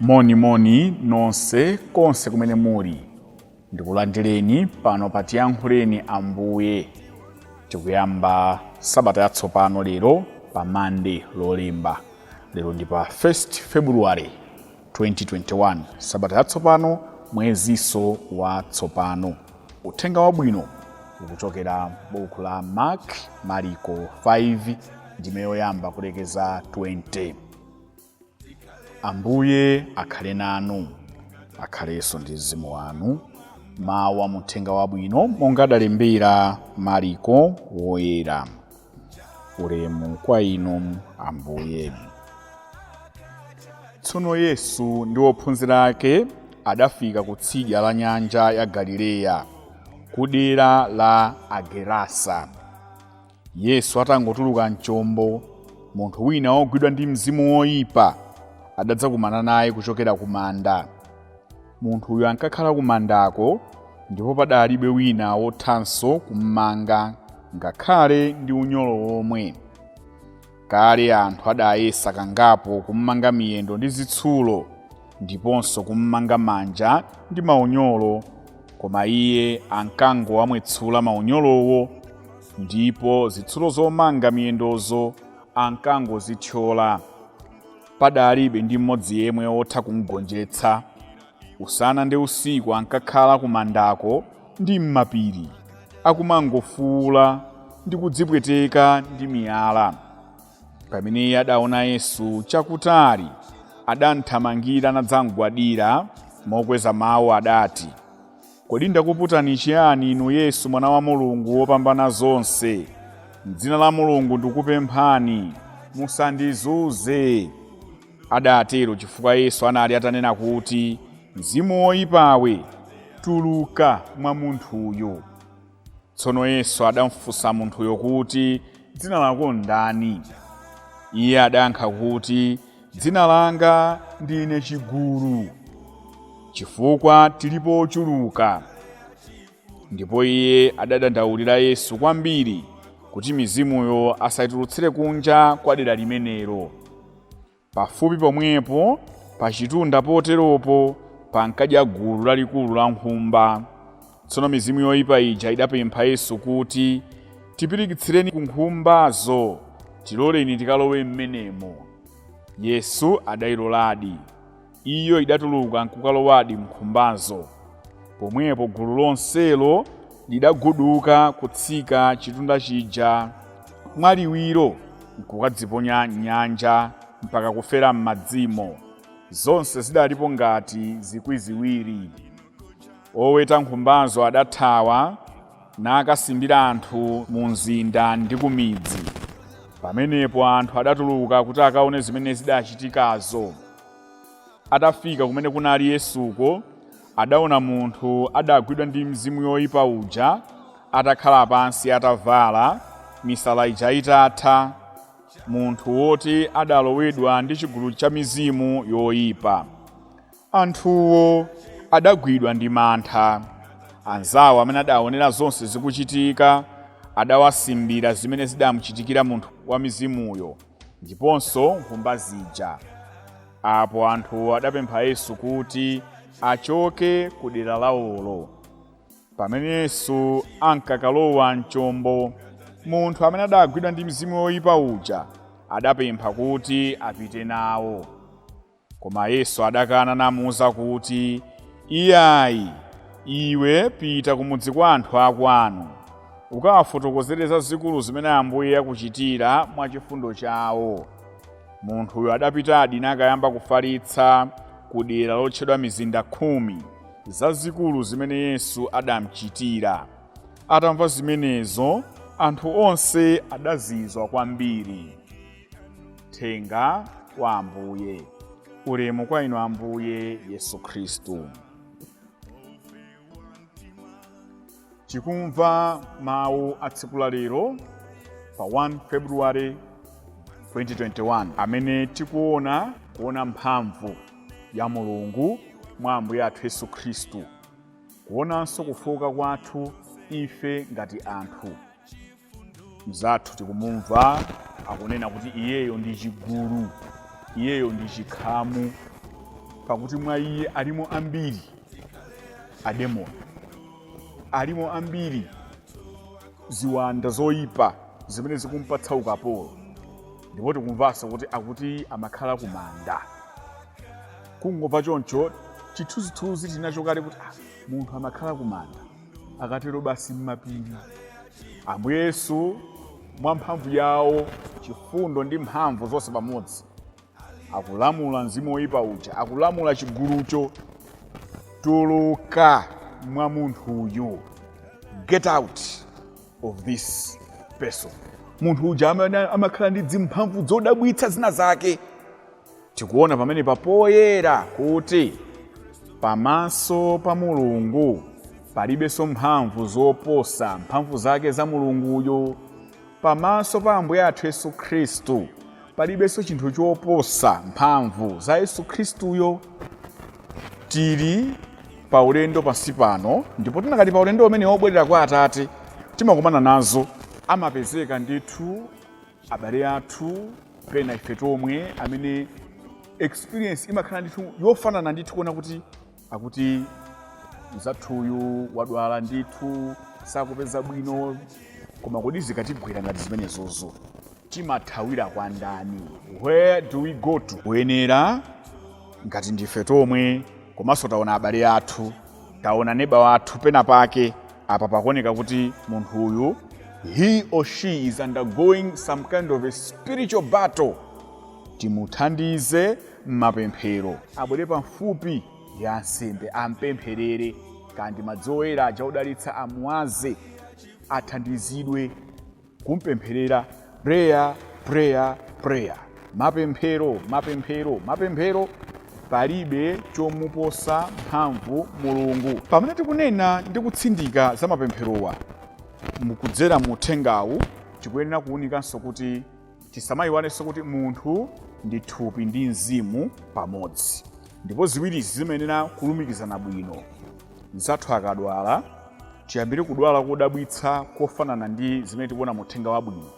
moni moni nonse konse kumene muli ndikulandireni pano pa tiyankhuleni ambuye tikuyamba sabata yatsopano lero pa mande lolemba lero ndi pa 1 february 2021 sabata yatsopano mwezinso watsopano uthenga wabwino ukuchokera buku la mark mariko 5 ndime yoyamba kulekeza 20 ambuye akhale nanu akhalenso ndi mzimu wanu mawu a muthenga wabwino monga adalembera mariko woyera ulemu kwa inu ambuye tsono yesu ndi ophunzira ake adafika ku tsidya la nyanja ya galileya ku dera la agerasa yesu atangotuluka mchombo munthu wina wogwidwa ndi mzimu woyipa adadzakumana naye kuchokera ku manda munthuyo ankakhala ku mandako ndipo padalibe wina wothanso kummanga ngakhale ndi unyolo womwe Kale anthu adayesa kangapo kummanga miyendo ndi zitsulo ndiponso kummanga manja ndi maunyolo, koma iye ankangowamwetsula maunyolowo ndipo zitsulo zomanga miyendozo ankangozithyola. Padalibe ndi mmodzi yemwe wotha kumgonjetsa. Usana ndi usiku ankakhala kumandako ndi m'mapiri, akumangofuula ndi kudzipweteka ndi miyala. Pamene iye adaona Yesu chakutali, adamthamangira nadzamgwadira, mokweza mawu adati, Kodi ndakuputani chiyani, Inu Yesu, Mwana wa Mulungu wopambana zonse? M'dzina la Mulungu ndikupemphani, musandizunze. Adatero chifukwa Yesu anali atanena kuti, Mzimu woipawe, tuluka mwa munthuyu. Tsono Yesu adamufunsa munthuyo kuti, Dzina lako ndani? Iye adayankha kuti, Dzina langa ndine Chigulu, chifukwa tilipo ochuluka. Ndipo iye adadandaulira Yesu kwambiri kuti mizimuyo asaitulutsire kunja kwa dera limenelo. Pafupi pomwepo, pachitunda poteropo, pankadya gulu lalikulu la nkhumba. Tsono mizimu yoipa ija idapempha Yesu kuti, Tipirikitsireni ku nkhumbazo, tiloleni tikalowe m'menemo. Yesu adailoladi. Iyo idatuluka nkukalowadi m'nkhumbazo. Pomwepo gulu lonselo lidaguduka kutsika chitunda chija mwaliwiro nkukadziponya m'nyanja mpaka kufera m'madzimo. Zonse zidalipo ngati zikwi ziwiri. Oweta nkhumbazo adathawa nakasimbira anthu mumzinda ndi kumidzi. Pamenepo anthu adatuluka kuti akaone zimene zidachitikazo. Atafika kumene kunali Yesuko, adaona munthu adagwidwa ndi mizimu yoyipa uja atakhala pansi atavala misala ija itatha, munthu woti adalowedwa ndi chigulu cha mizimu yoyipa. Anthuwo adagwidwa ndi mantha. Anzawo amene adaonera zonse zikuchitika adawasimbira zimene zidamuchitikira munthu wamizimuyo. ndiponso nkhumba zija. Apo anthu adapempha Yesu kuti achoke ku dera lawolo. Pamene Yesu ankakalowa m'chombo, munthu amene adaagwidwa ndi mizimu yoyipa uja adapempha kuti apite nawo. Koma Yesu adakana namuuza kuti, Iyayi, iwe pita kumudzi kwa anthu akwanu, ukawafotokozere zazikulu zimene Ambuye akuchitira mwa chifundo chawo. Munthuyo adapitadi nakayamba kufalitsa ku dera lotchedwa Mizinda Khumi, zazikulu zimene Yesu adamuchitira. Atamva zimenezo, anthu onse adazizwa kwambiri. uthenga wa ambuye ulemu kwa inu ambuye yesu khristu tikumva mawu a tsiku la lero pa 1 february 2021 amene tikuona kuona mphamvu ya mulungu mwa ambuye athu yesu khristu kuonanso kufooka kwathu ife ngati anthu mzathu tikumumva akunena kuti iyeyo ndi chigulu iyeyo ndi chikhamu pakuti mwa iye alimo ambiri ademoni alimo ambiri ziwanda zoyipa zimene zikumpatsa ukapolo ndipo tikumvanso kuti akuti amakhala kumanda kungomva choncho chithunzithunzi tinacho kale kuti ah, munthu amakhala kumanda akatero basi m'mapiri ambuye yesu mwa mphamvu yawo chifundo ndi mphamvu zonse pamodzi akulamula mzimu woyipa uja akulamula chigulucho tuluka mwa munthuyu get out of this person munthu uja amakhala ndi dzimphamvu zodabwitsa zina zake tikuona pamene papoyera kuti pamaso pa mulungu palibenso mphamvu zoposa mphamvu zake za mulunguyo pamaso pa ambuye athu yesu khristu palibenso chinthu choposa mphamvu za yesu khristuyo tili pa ulendo pansi pano ndipo tikakhala pa ulendo umene wobwerera kwa atate timakumana nazo amapezeka ndithu abale athu pena ife tomwe amene experience imakhala ndithu yofanana ndithu kuona kuti akuti mzathuyu wadwala ndithu sakupeza bwino koma kodi zikatigwera ngati zimenezozo timathawira kwa ndani where do we go to kuyenera ngati ndife tomwe komanso taona abale athu taona neba wathu pena pake Apa pakuoneka kuti munthu uyu he or she is undergoing some kind of a spiritual battle. Timuthandize m'mapemphero, abwere pamfupi ndi ansembe ampempherere, kaya ndi madzi oyera aja odalitsa amuwaze, athandizidwe. kumpempherera prayer prayer prayer mapemphero mapemphero mapemphero palibe chomuposa mphamvu mulungu pamene tikunena ndi kutsindika za mapempherowa kudzera mu uthengawu tikuyenera kuwunikanso kuti Tisamayiwalenso kuti munthu ndi thupi ndi mzimu pamodzi ndipo ziwirizi zimayenera kulumikizana bwino. Mnzathu akadwala, tiyambire kudwala kodabwitsa kofanana ndi zimene tikuona mu Uthenga Wabwino,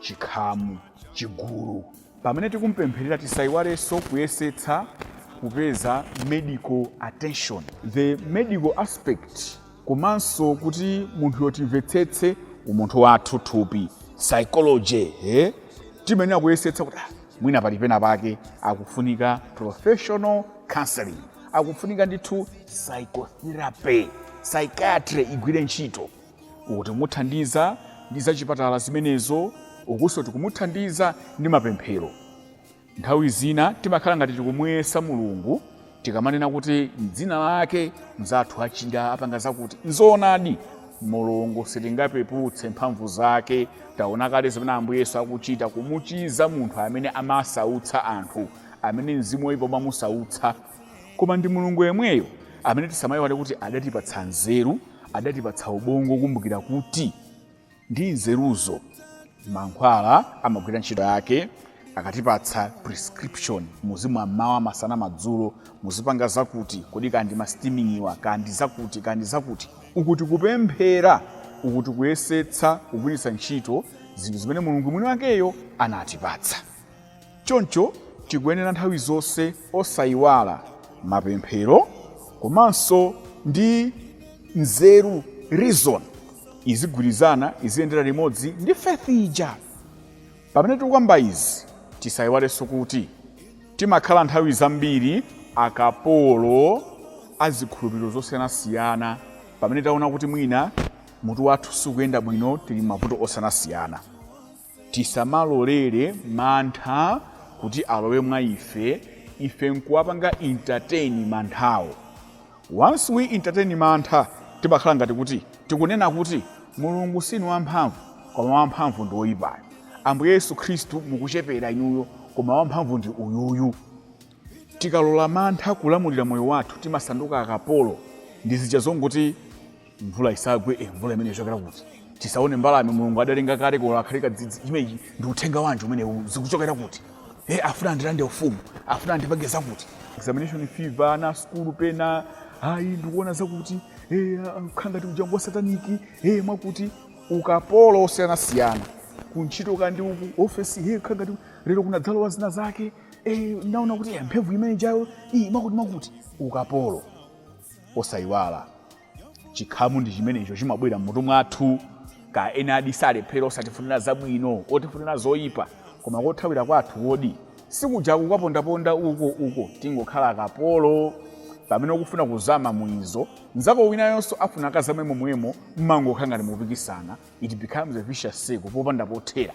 chikhamu, chigulu. Pamene tikumupempherera tisayiwalenso kuyesetsa kupeza medical attention. The medical aspect komanso kuti munthuyo timvetsetse umunthu wathu thupi psychology eh? timayenera kuyesetsa kuti ah, mwina pali pena pake akufunika professional counseling akufunika ndithu psychotherapy psychiatry igwire ntchito uku tikumuthandiza ndi zachipatala zimenezo ukunso tikumuthandiza ndi mapemphero Nthawi zina timakhala ngati tikumuyesa Mulungu tikamanena kuti m'dzina lake mnzathu achire, apange zakuti. N'zoonadi, Mulungu sitingapeputse mphamvu zake. Taona kale zimene Ambuye Yesu akuchita kumuchiza munthu amene amasautsa anthu, amene mzimu woipa umamusautsa. Koma ndi Mulungu yemweyo amene tisamaiwale kuti adatipatsa nzeru, adatipatsa ubongo wokumbukira kuti. ndi nzeruzo. Mankhwala amagwira ntchito yake akatipatsa prescription, muzimwa mmawa, masana, madzulo, muzipanga zakuti, kodi kaya ndi ma steaming wa, kaya ndi zakuti, kaya ndi zakuti. Uku tikupemphera, uku tikuyesetsa kugwiritsa ntchito zinthu zimene Mulungu mwini wakeyo anatipatsa. Choncho tikuyenera nthawi zonse osaiwala mapemphero komanso ndi nzeru, reason, izigwirizana, iziyendera limodzi ndi faith ija. Pamene tikukamba izi, tisaiwalenso kuti timakhala nthawi zambiri akapolo a zikhulupiriro zosiyanasiyana pamene taona kuti mwina mutu wathu sukuyenda bwino, tili m'mavuto osiyanasiyana. tisamalolere mantha kuti alowe mwa ife ife nkuwapanga entertain manthawo once we entertain mantha timakhala ngati kuti tikunena kuti mulungu sinu wamphamvu koma wamphamvu ndi woyipayo ambuye yesu khristu mukuchepera inuyo koma wamphamvu ndi uyuyu tikalola mantha kulamulira moyo wathu timasanduka akapolo ndi zija zongoti mvula isagwe eh, mvula imene ichokera kuti tisaone mbalame mulungu adalenga kalekale akhale kadzidzi imeneyi ndi uthenga wanji umenewu zikuchokera kuti eh, afuna andilande ufumu afuna andipange zakuti examination fever ana sukulu pena ayi ndikuona zakuti eh, kukhala ngati ujangu wa sataniki eh, mwakuti ukapolo osiyanasiyana kuntchito kaya ndi ku ofesi hey, kukhala ngati lero kunadzalowa zina zake eh, naona kuti eh, mphemvu imene ijayo iyi mwakuti mwakuti ukapolo osayiwala chikhamu ndi chimenecho chimabwera mmutu mwathu kaya ena adani salephera osatifunira zabwino otifunira zoyipa koma kothawira kwathu kodi sikuja kukapondaponda uko uko tingokhala akapolo pamene ukufuna kuzama mu izo nzako winayonso afuna akazame momwemo mmangokhala ngati mupikisana it becomes a vicious circle popanda pothera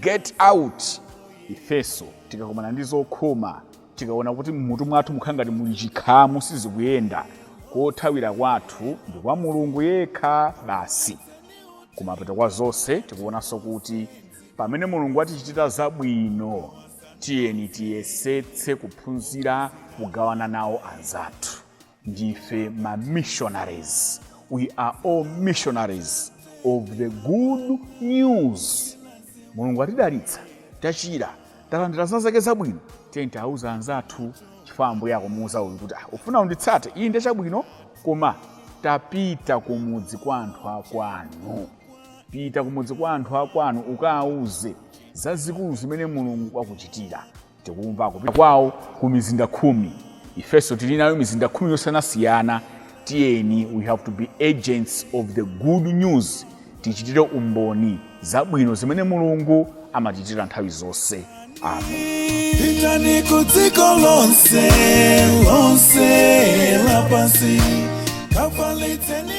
get out ifenso tikakumana ndi zokhoma tikaona kuti mmutu mwathu mukhala ngati muli chikhamu sizikuyenda kothawira kwathu ndi kwa mulungu yekha basi kumapeto kwa zonse tikuonanso kuti pamene mulungu atichitira zabwino tiyeni tiyesetse kuphunzira kugawana nawo anzathu ndife ma missionaries we are all missionaries of the good news mulungu atidalitsa tachira talandira zina zake zabwino tiyeni tiwauze anzathu chifukwa ambuye akumuuza uyu kuti "Ah, ufuna unditsate iyi ndi chabwino koma tapita kumudzi kwa anthu akwanu pita kumudzi kwa anthu akwanu ukawauze zazikulu zimene mulungu wakuchitira tikumva kupita kwawo ku mizinda khumi ifenso tili nayo mizinda khumi yosiyanasiyana tiyeni we have to be agents of the good news tichitire umboni zabwino zimene mulungu amatichitira nthawi zonse amen pitani ku dziko lonse lonse lapansi kafalitseni